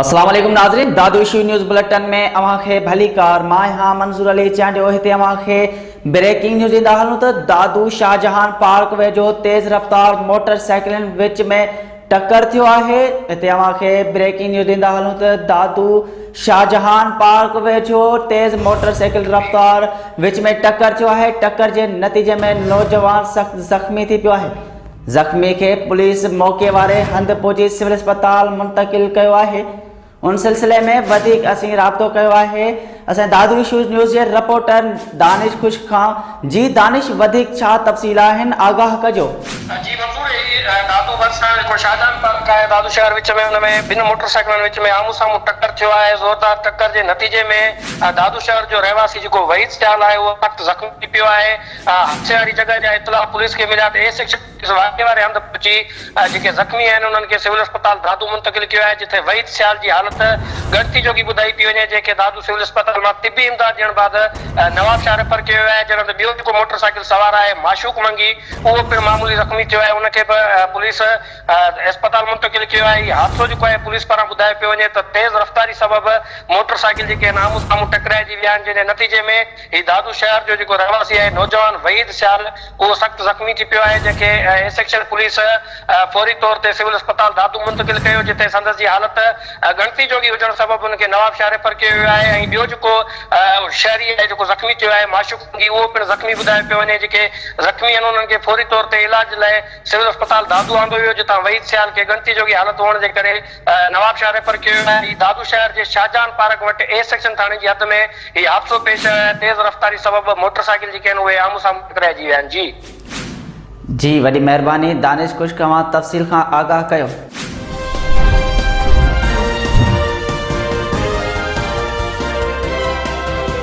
اسلام عليڪم ناظرين دادو ايشو نيوز بلٽن ۾ اوهان کي ڀلي ڪار مان آهيان منظور علي چانڊيو هتي اوهان کي بريڪنگ نيوز ڏيندا هلون ته دادو شاهجهان پارڪ ويجهو تيز رفتار موٽر سائيڪلن وچ ۾ ٽڪر ٿيو آهي هتي اوهان کي بريڪنگ نيوز ڏيندا هلون ته دادو شاهجهان پارڪ ويجهو تيز موٽر سائيڪل رفتار وچ ۾ ٽڪر ٿيو آهي، ٽڪر جي نتيجي ۾ نوجوان سخت زخمي ٿي پيو آهي، زخمي کي پوليس موقعي واري هنڌ پهچي سول اسپتال منتقل ڪيو آهي، ان سلسلي ۾ وڌيڪ اسين رابطو ڪيو آهي، اسين دادو ايشوز نيوز جي رپورٽر. دانش خشڪ کان جي دانش وڌيڪ ڇا تفصيل آهن آگاهه ڪجو. جي منظور هي دادو ڀرسان جيڪو شاهجهان پارڪ آهي دادو شهر وچ ۾ ان ۾ ٻن موٽر سائيڪلن وچ ۾ آمهون سامهون ٽڪر ٿيو آهي زوردار ٽڪر جي نتيجي ۾ دادو شهر جو رهواسي جيڪو وحيد سيال آهي اهو سخت زخمي ٿي پيو آهي حادثي واري جڳهه جا اطلاع پوليس کي مليا ته ايس ايڇ پوليس واقعي واري هنڌ پهچي جيڪي زخمي آهن انهن کي سول اسپتال دادو منتقل ڪيو آهي جتي وحيد سيال جي حالت ڳڻتي جوڳي ٻڌائي پئي وڃي جنهن کي دادو سول اسپتال مان طبي امداد ڏيڻ بعد نوابشاهه ريفر ڪيو ويو آهي جڏهن ته ٻيو جيڪو موٽر سائيڪل سوار آهي معشوق منگي اهو پڻ معمولي زخمي ٿيو آهي ان کي به پوليس اسپتال منتقل ڪيو آهي هي حادثو جيڪو آهي پوليس پاران ٻڌايو پيو وڃي ته تيز رفتاري سبب موٽر سائيڪل جيڪي آهن آمهون سامهون ٽڪرائجي ويا آهن جنهن جي نتيجي ۾ هي دادو شهر جو جيڪو رهواسي آهي نوجوان وحيد سيال اهو سخت زخمي ٿي پيو آهي جنهن کي اي سيڪشن پوليس فوري طور تي سول اسپتال دادو منتقل ڪيو جتي سندس جي حالت ڳڻتي جوڳي هجڻ سبب ان کي نوابشاهه ريفر ڪيو ويو آهي ۽ ٻيو جيڪو شهري آهي جيڪو زخمي ٿيو آهي معشوق سنگهي اهو پڻ زخمي ٻڌايو پيو وڃي جيڪي زخمي آهن انهن کي فوري طور تي علاج لاء سول اسپتال دادو آندو ويو جتان وحيد سيال کي ڳڻتي جوڳي حالت هئڻ جي ڪري نوابشاهه ريفر ڪيو ويو آهي. هي دادو شهر جي شاهه جهان پارڪ وٽ اي سيڪشن ٿاڻي جي حد ۾ هي حادثو پيش آيو آهي. تيز رفتاري سبب موٽر سائيڪل جيڪي آهن اهي آمهون سامهون ٽڪرائجي ويا آهن. جي. جي وڏي مهرباني دانش خشڪ اوهان تفصيل کان آگاهه ڪيو.